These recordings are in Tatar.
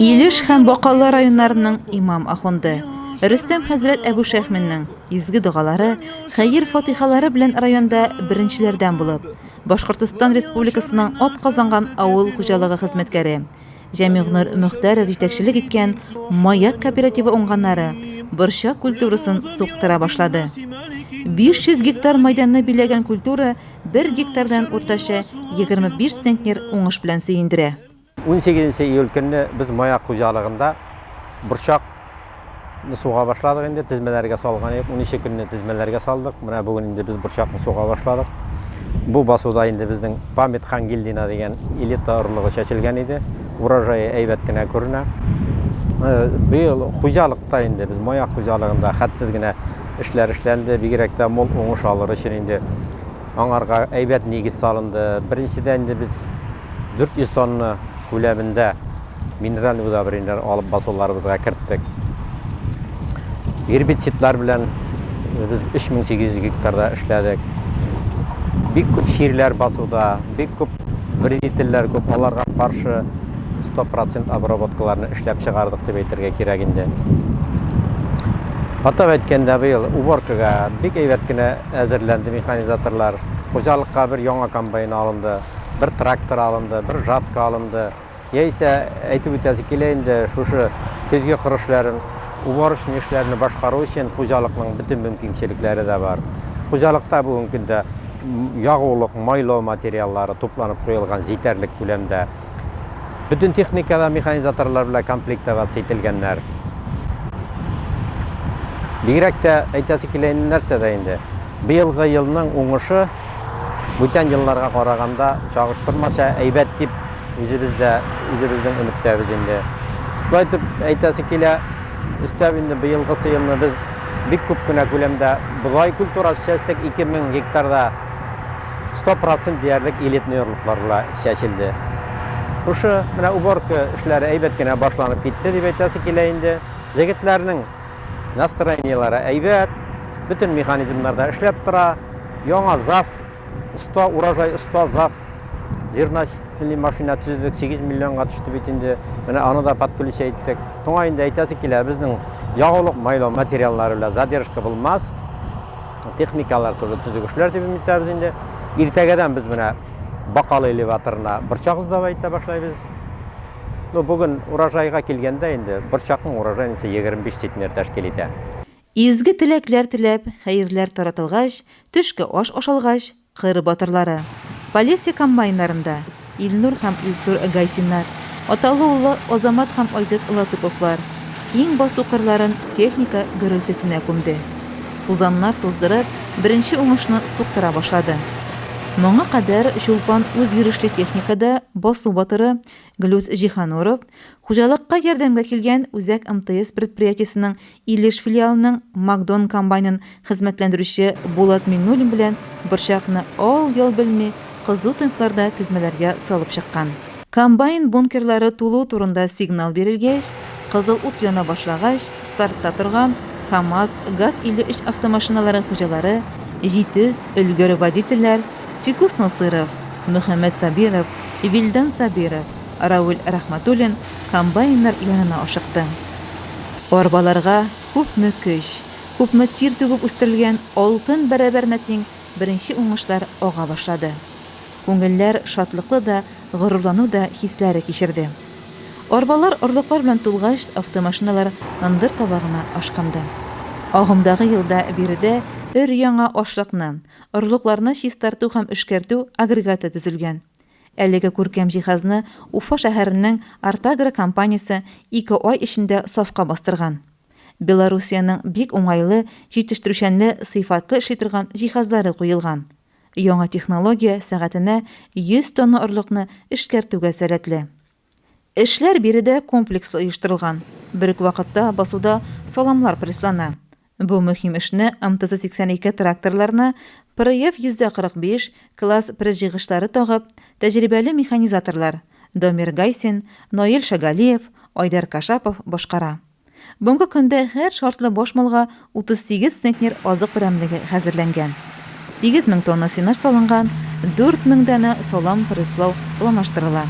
Илеш һәм Бакалы районнарының имам ахунды Рөстәм хәзрәт Әбүшәхминнең изге догалары, хәер-фатихалары белән районда беренчеләрдән булып, Башкортостан Республикасының атказанган авыл хуҗалыгы хезмәткәре, Җәмигънур Мөхтәров җитәкчелек иткән Маяк кооперативы уңганнары борчак культурасын суктыра башлады. 500 гектар майданны биләгән культура бер гектардан уртача 25 центнер уңыш белән сөендерә. 18 нче июль көнне без Маяк хуҗалыгында борчак Ны суга башладык инде, тезмәләргә салган идек. Унничә көнне тезмәләргә салдык. Менә бүген инде без борчакны суга башладык. Бу басуда инде безнең Памет Хангильдина дигән элита орлыгы чәчелгән иде. Урожае әйбәт кенә күренә. Э, быел хуҗалыкта инде без маяк хуҗалыгында хәтсез генә эшләр эшләнде. Бигрәк тә мул уңыш алыр өчен инде аңарга әйбәт нигез салынды. Беренчедән инде без 400 тонна күләмендә минераль удобрениеләр алып басуларыбызга керттек. Гербицидлар белән без 3800 гектарда эшләдек. Бик күп чирләр басуда, бик күп вредительләр күп, аларга каршы 100% обработкаларны эшләп чыгардык дип әйтергә кирәк инде. Атап әйткәндә, быел уборкага бик әйбәт кенә әзерләнде механизаторлар. Хуҗалыкка бер яңа комбайн алынды, бер трактор алынды, бер жатка алынды. Яисә, әйтеп үтәсе килә инде, шушы көзге кыр эшләрен, уборочный эшләрне башкару өчен хуҗалыкның бөтен мөмкинчелекләре дә бар. Хуҗалыкта бүгенге көндә ягулык, майлау материаллары тупланып куелган җитәрлек күләмдә. Бөтен техника да механизаторлар белән комплектоваться ителгәннәр. Бигрәк тә әйтәсе килә инде нәрсәдә инде, быелгы елның уңышы, Бүтән елларга караганда, чагыштырмача әйбәт дип үзебез дә үзебезнең өметтәбез инде. Шулай итеп, әйтәсе килә, өстәп инде быелгысы елны без бик күп кенә күләмдә бодай культурасы чәчтек, 2000 гектарда 100 процент диярлек элитный орлыклар була чәчелде. Шушы менә уборка эшләре әйбәт кенә башланып китте дип әйтәсе килә инде. Җегетләрнең Настроениеләре әйбәт, бөтен механизмнар да эшләп тора. Яңа ЗАФ, оста урожай, оста ЗАФ зерносительный машина төзедек, 8 миллионга төште бит инде. Менә аны да подключить иттек. Шуңа инде әйтәсе килә, безнең ягулык майлау материаллары белән задержка булмас. Техникалар туры төзек эшләр дип өмет итәбез инде. Иртәгәдән без менә Бакалы элеваторына борчак сдавать итә башлайбыз. Ну, бүген урожайга килгәндә инде, борчакның урожае ничә, 25 центнер тәшкил итә. Изге теләкләр теләп, хәерләр таратылгач, төшке аш ашалгач, кыр батырлары, Полесье комбайннарында, Илнур һәм Илсур Гайсиннар, аталы-уллы Азамат һәм Айзат Латыповлар, Киң басу кырларын техника гөрелтесенә күмде. Тузаннар туздырып, беренче уңышны суктыра башлады. Моңа кадәр Чулпан үзйөрешле техникада басу батыры Глюс Җиһануров, хуҗалыкка ярдәмгә килгән Үзәк МТС предприятиесенең Илеш филиалының Мак-Дон комбайнын Хезмәтләндерүче Булат Миннуллин белән борчакны ал-йол белми кызу темпларда тезмәләргә салып чыккан. Комбайн бункерлары тулу турында сигнал бирелгәч, кызыл ут яна башлагач, стартта торган КАМАЗ, ГАЗ-53 автомашиналары хуҗалары, җитез, өлгер водительләр Фикус Насыйров, Мөхәммәт Сабиров, Вилдан Сабиров, Равил Рәхмәтуллин комбайннар янына ашыкты. Арбаларга күпме көч, Күпме тир түгеп үстерелгән алтын бәрабәренә тиң беренче уңышлар ага башлады. Күңелләр шатлыклы да, горурлану да хисләре кичерде. Арбалар орлыклар белән тулгач, автомашиналар ындыр табагына ашкынды. Агымдагы елда биредә өр-яңа ашлыкны, орлыкларны чистарту һәм эшкәртү агрегаты төзелгән. Әлеге күркәм җиһазны Уфа шәһәренең Артагро компаниясе ике ай эчендә сафка бастырган. Белоруссиянең бик уңайлы, җитештерүчәнле, сыйфатлы эшли торган җиһазлары куелган. Яңа технология сәгатенә 100 тонна орлыкны эшкәртүгә сәләтле. Эшләр биредә комплекслы оештырылган, бер үк вакытта басуда саламлар пресслана. Бу мөһим эшне МТЗ-82 тракторларына ПРФ-145, класс пресс-җыйгычлары тагып, тәҗрибәле механизаторлар, Дамир Гайсин, Наил Шагалиев, Айдар Кашапов башкара. Бүгенге көндә һәр шартлы баш малга 38 центнер азык берәмлеге хәзерләнгән. 8 мең тонна сенаж салынган, 4 мең данә салам преслау планлаштырыла.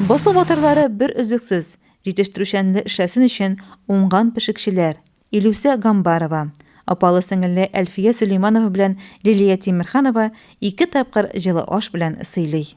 Басу батырлары бер өзлексез, җитештерүчәнле эшләсен өчен уңган пешекчеләр, Илүсә Гамбарова, апалы-сеңелле Әлфия Сөләйманова белән Лилия Тимерханова ике тапкыр җылы аш белән сыйлый.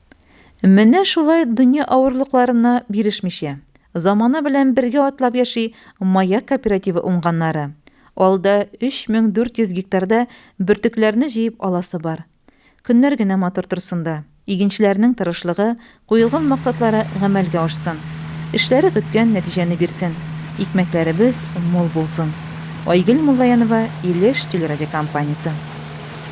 Менә шулай дөнья авырлыкларына бирешмичә, замана белән бергә атлап яши Маяк кооперативы уңганнары. Алда 3400 гектарда бөртекләрне җыеп аласы бар. Көннәр генә матур торсын да, игенчеләрнең тырышлыгы, куелган максатлары гамәлгә ашсын. Эшләре көткән нәтиҗәне бирсен, икмәкләребез мул булсын. Айгөл Муллаянова, Илеш телерадиокомпаниясе.